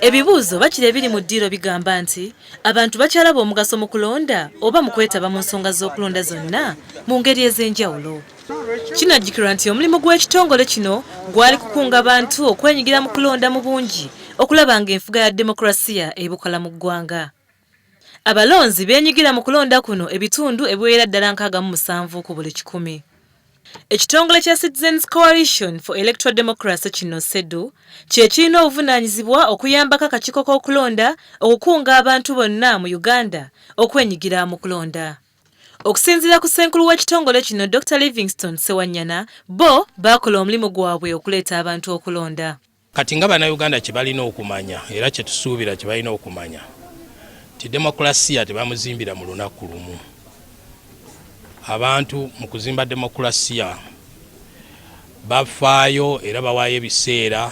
ebibuuzo bakira ebiri mu ddiiro bigamba nti abantu bakyalaba omugaso mu kulonda oba mu kwetaba mu nsonga z'okulonda zonna mu ngeri ez'enjawulo kinajjukirwa nti omulimu gw'ekitongole kino gwali kukunga bantu okwenyigira mu kulonda mu bungi okulaba ng'enfuga ya demokulasiya ebukola mu ggwanga Abalonzi beenyigira mu kulonda kuno ebitundu ebiwerera ddala nkaaga mu musanvu ku buli kikumi. Ekitongole kya Citizens Coalition for Electoral Democracy kino, CEDU, kye kirina obuvunaanyizibwa okuyambako akakiiko k'okulonda okukunga abantu bonna mu Uganda okwenyigira mu kulonda. Okusinziira ku ssenkulu w'ekitongole kino Dokita Livingstone Ssewanyana, bbo baakola omulimu gwabwe okuleeta abantu okulonda. Kati nga Bannayuganda kye balina okumanya era kye tusuubira kye balina okumanya nti demokulasiya tebamuzimbira mu lunaku lumu. Abantu mu kuzimba demokulasiya bafaayo era bawaayo ebiseera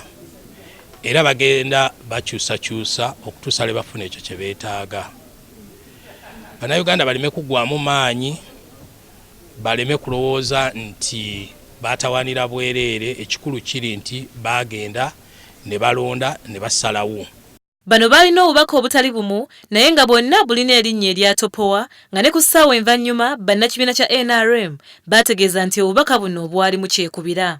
era bagenda bakyusakyusa okutuusa lwe bafuna ekyo kye beetaaga. Bannayuganda baleme kuggwamu maanyi. baleme kulowooza nti baatawaanira bwereere, ekikulu kiri nti baagenda ne balonda ne basalawo. Bano baalina obubaka obutali bumu naye nga bwonna bulina erinnya eryatopowa nga ne ku ssaawa envannyuma bannakibiina kya nrm baategeeza nti obubaka buno bwalimu kyekubira.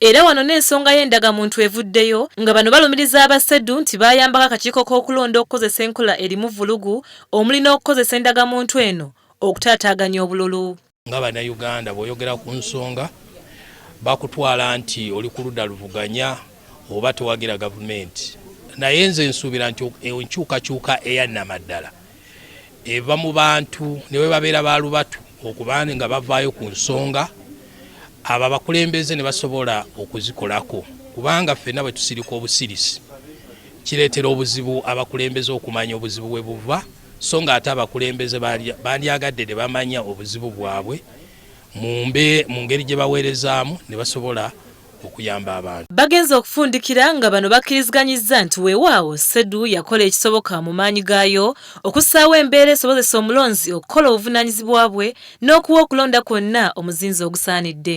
Era wano n'ensonga y'endagamuntu evuddeyo nga bano balumiriza aba CEDU nti baayambako akakiiko k'okulonda okukozesa enkola erimu vvulugu omuli n'okukozesa endagamuntu eno okutaataaganya obululu. Nga Bannayuganda bw'oyogera ku nsonga bakutwala nti oli ku ludda luvuganya oba towagira gavumenti naye nze nsuubira nti enkyukakyuka eyannamaddala eva mu bantu ne bwe babeera ba lubatu okuba nga bavaayo ku nsonga abo abakulembeze ne basobola okuzikolako kubanga ffenna bwe tusirika obusirisi kireetera obuzibu abakulembeze okumanya obuzibu we buva so ng'ate abakulembeze bandyagadde ne bamanya obuzibu bwabwe mu ngeri gye baweerezaamu ne basobola okuyamba abantu. Bagenze okufundikira nga bano bakkiriziganyizza nti weewaawo CEDU yakola ekisoboka mu maanyi gaayo okussaawo embeera esobozesa omulonzi okukola obuvunaanyizibwa bwe n'okuwa okulonda kwonna omuzinzi ogusaanidde.